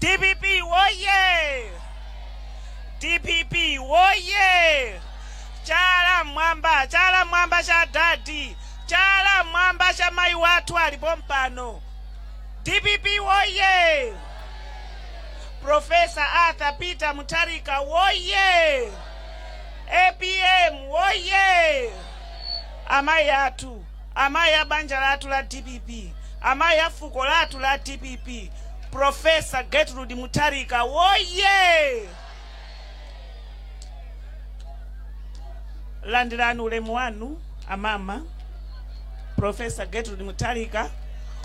dpp woye dpp woye chala mwamba chala mwamba cha dadi chala mwamba cha mayi wathu alipompano dpp woye profesa arthur peter mutharika woye Apm woyee! Amayi athu, amayi a banja lathu la dpp, amayi a fuko lathu la dpp, Prof. Gertrude Mutharika woyee! Landirani ulemu wanu a mama. Prof. Gertrude Mutharika,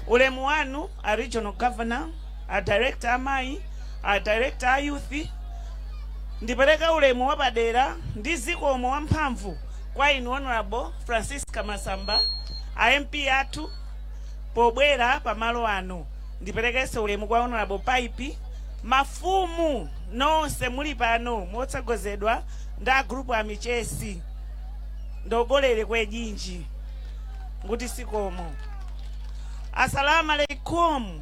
ulemu wanu a Regional Governor. a director amayi, a director a youth, Ndipereka ulemu wapadera ndi zikomo wamphamvu kwa inu Hon. Francisca Masamba, a MP athu pobwera pamalo ano. Ndiperekenso ulemu kwa Hon. Pipe, mafumu nonse muli pano motsogozedwa ndi a group a Michesi ndogolere kwejinji nguti sikomo. Asalamu alaikum.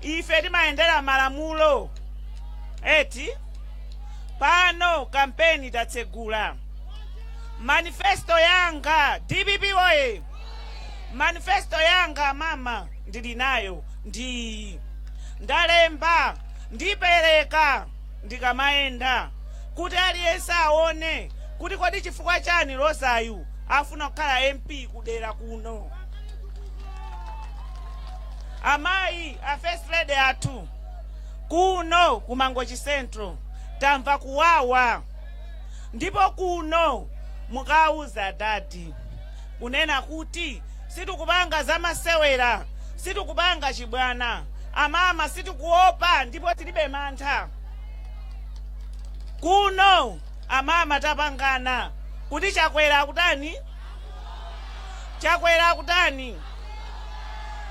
Ife timayendera malamulo, eti? Pano kampeni tatsegula. Manifesto yanga dpp woye! Manifesto yanga mama ndili nayo ndi iyi ndalemba ndipereka ndikamayenda kuti aliyense aone kuti kodi chifukwa chani Rosayu afuna kukhala MP kudera kuno. Amayi a first lady athu kuno ku Mangochi Central tamva kuwawa ndipo kuno mukauze adadi kunena kuti situkupanga zamasewera, situkupanga chibwana. Amama situkuopa ndipo tilibe mantha. Kuno amama tapangana kuti Chakwera akutani? Chakwera akutani?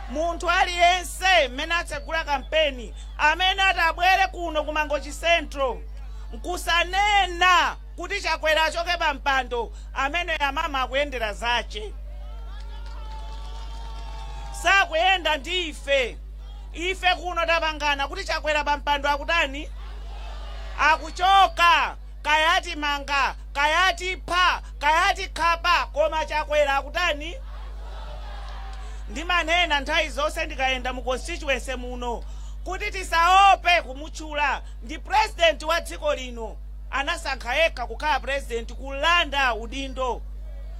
munthu aliyense mmene atsegula kampeni amene atabwere kuno ku mangochi central nkusanena kuti chakwera achoke pa mpando ameneyo amama akuyendera zache sakuyenda ndi ife ife kuno tapangana kuti chakwera pa mpando akutani akuchoka Kaya atimanga, kaya atipha, kaya atikhapa koma Chakwera akutani? Ndimanena nthawi zonse ndikayenda mu constituency muno kuti tisaope kumutchula ndi president wa dziko lino. Anasankha yekha kukhala president, kulanda udindo.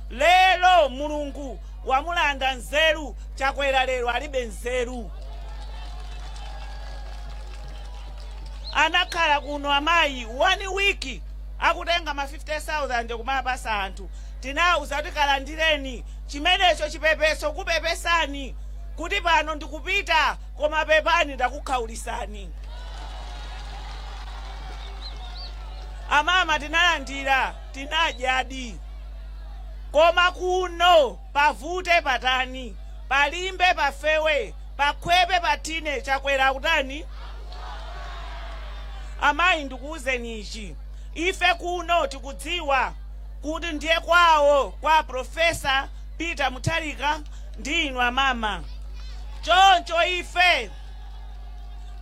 Lero Mulungu wamulanda nzeru, Chakwera lero alibe nzeru. Anakhala kuno amayi one week akutenga ma 50,000 kumaapasa anthu. Tinauza kuti kalandireni chimenecho chipepeso kupepesani kuti pano ndikupita koma pepani ndakukhaulisani. Amama tinalandira tinadyadi koma kuno. Pavute patani, palimbe pafewe, pakhwepe pathine Chakwera akutani? Amayi ndikuuzeni ichi, ife kuno tikudziwa kuti ndiye kwawo kwa a Professor Peter Mutharika ndi inu amama. Choncho ife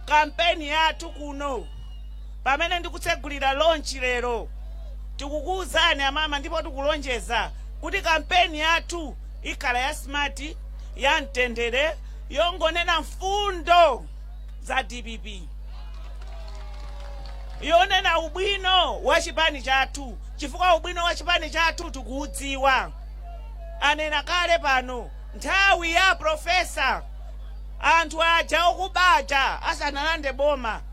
kampeni yathu kuno. Pamene ndikutsegulira launch lero, tikukuuzani amama ndipo tikulonjeza kuti kampeni yathu ikhala ya smart, ya mtendere, yongonena mfundo za dpp, yonena ubwino wa chipani chathu chifukwa ubwino wa chipani chathu tikuudziwa. Anena kale pano nthawi ya Professor anthu aja okuba aja asanalande boma,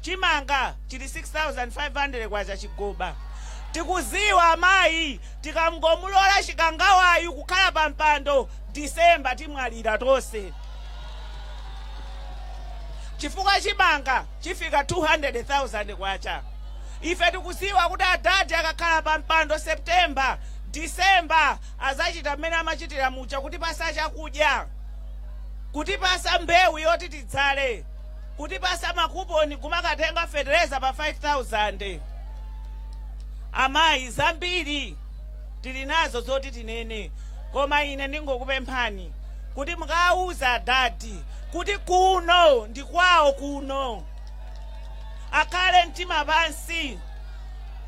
chimanga chili K6500 chigoba. Tikuziwa amayi tikangomulola chikangawayu kukhala pa mpando December timwalira tonse chifukwa chimanga chifika K200000. Ife tikuziwa kuti adadi akakhala pa mpando September, December azachita mmene amachitira muja kutipasa chakudya, kutipasa mbewu yoti tidzale. kutipasa makuponi kumakatenga fetereza pa 5000 amayi zambiri tili nazo zoti tinene koma ine ndingokupemphani kuti mukawauze adadi kuti kuno ndi kwawo kuno akhale mtima pansi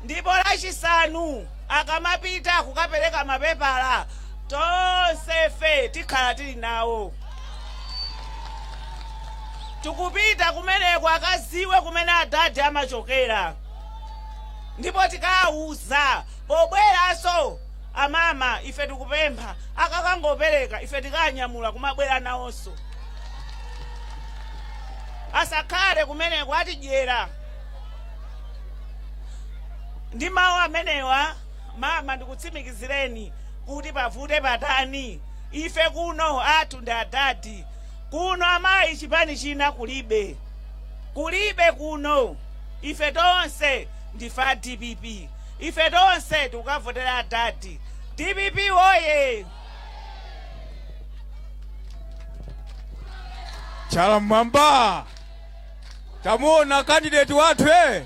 ndipo lachisanu akamapita kukapereka mapepala tonsefe tikhala tili nawo Tikupita kumeneko akadziwe kumene adadi amachokera ndipo tikaawuza pobweranso amama ife tikupempha akakangooperekeza ife tikaanyamula kumabwera nawonso asakhale kumeneko atidyera ndi mawu amenewa mama ndikutsimikizireni kuti pavute patani Ife kuno athu ndi adadi kuno amayi chipani china kulibe kulibe kuno ife tonse ndife a dpp ife tonse tikukavotera adadi dpp woye. Chala m'mwamba. Tamuona candidate wathu eh.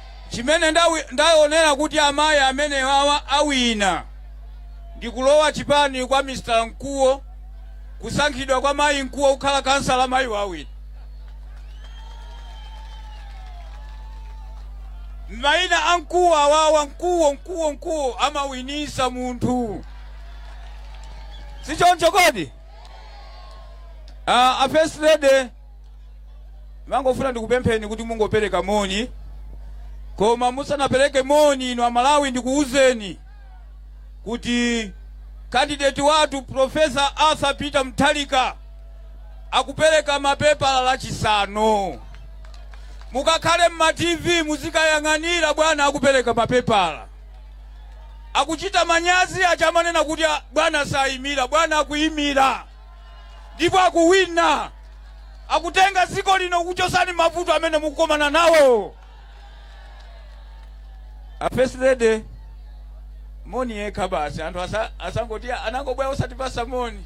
Chimene ndaonera kuti amayi amenewawa awina ndi kulowa chipani kwa Mr Nkuo kusankhidwa kwa mayi Nkuo kukhala khansala mayiwa awina. Maina a Nkuo awawa Nkuo Nkuo Nkuo amawinisa munthu sichoncho kodi? Uh, a first lady ndimangofuna ndikupempheni kuti mungopereka moni koma musanapereke moni inu amalawi ndikuwuzeni kuti kandideti wathu profesa arthur peter Mutharika akupereka mapepala lachisanu mukakhale mma tv muzikayang'anira bwana akupereka mapepala akuchita manyazi aja amanena kuti "Ah, bwana sayimira bwana akuyimira ndipo akuwina akutenga dziko lino kuchotsani mavuto amene mukukomana nawo a first lady moni yekha basi anthu asa- asangoti anangobwera osatipasa moni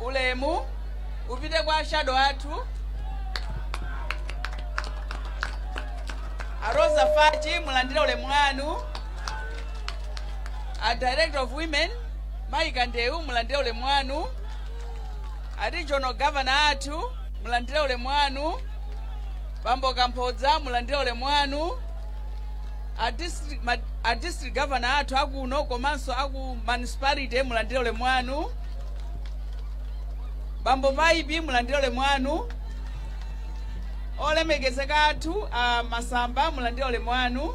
ulemu upite kwa ashado athu a Rosa Fachi mulandire ulemu wanu a director of women mayi kandewu mulandire ulemu wanu a regional governor athu mulandire ulemu wanu bambo kamphodza mulandire ulemu wanu A district, ma, a district governor athu akuno komanso aku municipality mulandire ulemu wanu. Bambo Vaibi mulandire ulemu wanu. Olemekezeka athu a Masamba mulandire ulemu wanu.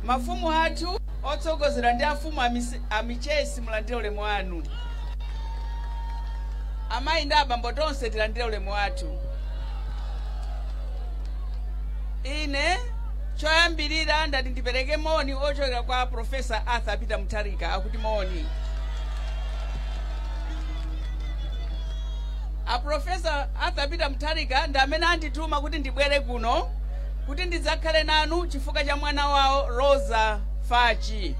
Mafumu athu otsogozedwa ndi afumu a Misi- a Michesi mulandire ulemu wanu. Amayi ndi abambo tonse tilandire ulemu wathu. ine choyambirira ndati ndipereke moni ochokera kwa profesa arthur peter mutharika akuti moni aprofesa arthur peter mutharika ndi amene andituma kuti ndibwere kuno kuti ndidzakhale nanu chifukwa cha mwana wawo rosa fachi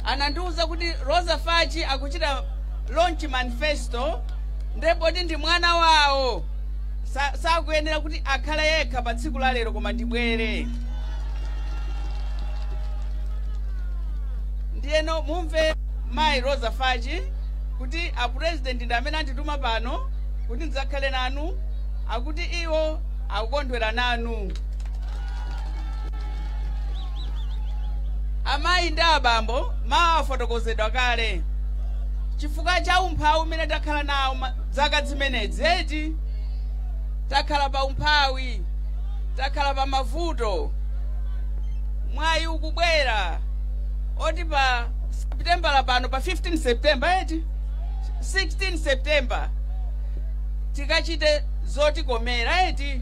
anandiwuza kuti rosa fachi akuchita launch manifesto nde poti ndi mwana wawo sakuyenera kuti akhale yekha pa tsiku la lero koma ndibwere ndiyeno mumve mayi rosa fachi kuti apurezidenti ndi amene andituma pano kuti ndidzakhale nanu akuti iwo akukondwera nanu Amayi ndi abambo, mawu afotokozedwa kale. Chifukwa cha umphawi umene takhala nawo zaka zimenezi, eti takhala pa umphawi, takhala pa mavuto. Mwayi ukubwera oti pa Septembala pano pa 15 September eti 16 September tikachite zotikomera eti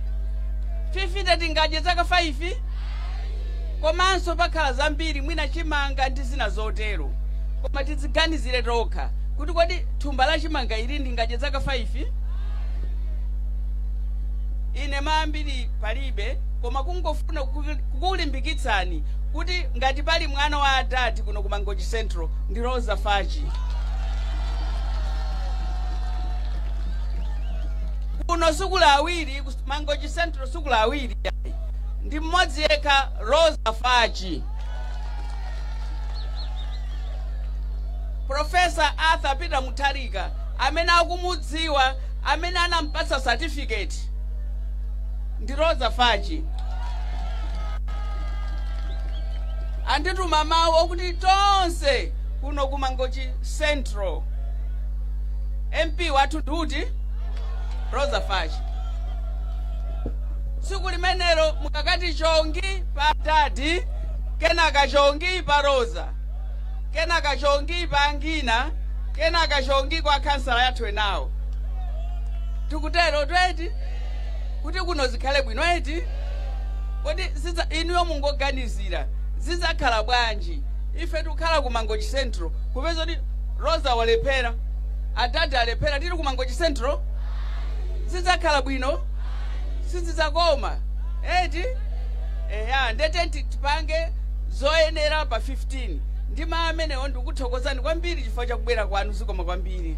50 tingadye zaka 5 komanso pakhala zambiri mwina chimanga ndi zina zotero koma tidziganizire tokha kuti kodi thumba la chimanga ili ndingadye zaka 5 ine maambiri palibe koma kungofuna kukulimbikitsani kuti ngati pali mwana wa adadi kuno ku mangochi central ndi rosa fachi kuno sikuli awiri ku mangochi central sikuli awiri ndi mmodzi yekha rosa fachi profesa arthur peter mutharika amene akumudziwa amene anampatsa certificate ndi rosa fachi andituma mawu okuti tonse kuno ku mangochi central mp wathu ndi uti rosa fachi tsiku limenelo mukakati chongi pa adadi kenaka chongi pa rosa kenaka chongi pa angina kenaka chongi kwa khansala yathu enawo tikutero eti kuti kuno zikhale bwino eti kodi inuyo mungoganizira zidzakhala bwanji ife tikukhala ku mangochi central kupeza kuti rosa walephera Adadi alephera tili ku mangochi central sizidzakhala bwino sizidzakoma eti eya nde tiyeni tipange zoyenera pa 15 ndi mau amenewo ndikuthokozani kwambiri chifukwa chakubwera kwanu zikomo kwambiri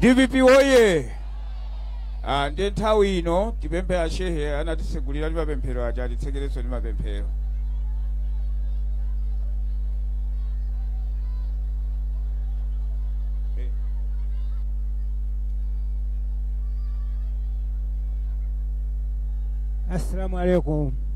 dpp woye ah, ndi nthawi ino tipemphe ashehe anatitsegulira ndi mapemphero aja atitsekerenso ndi mapemphero Eh. assalamu alaikum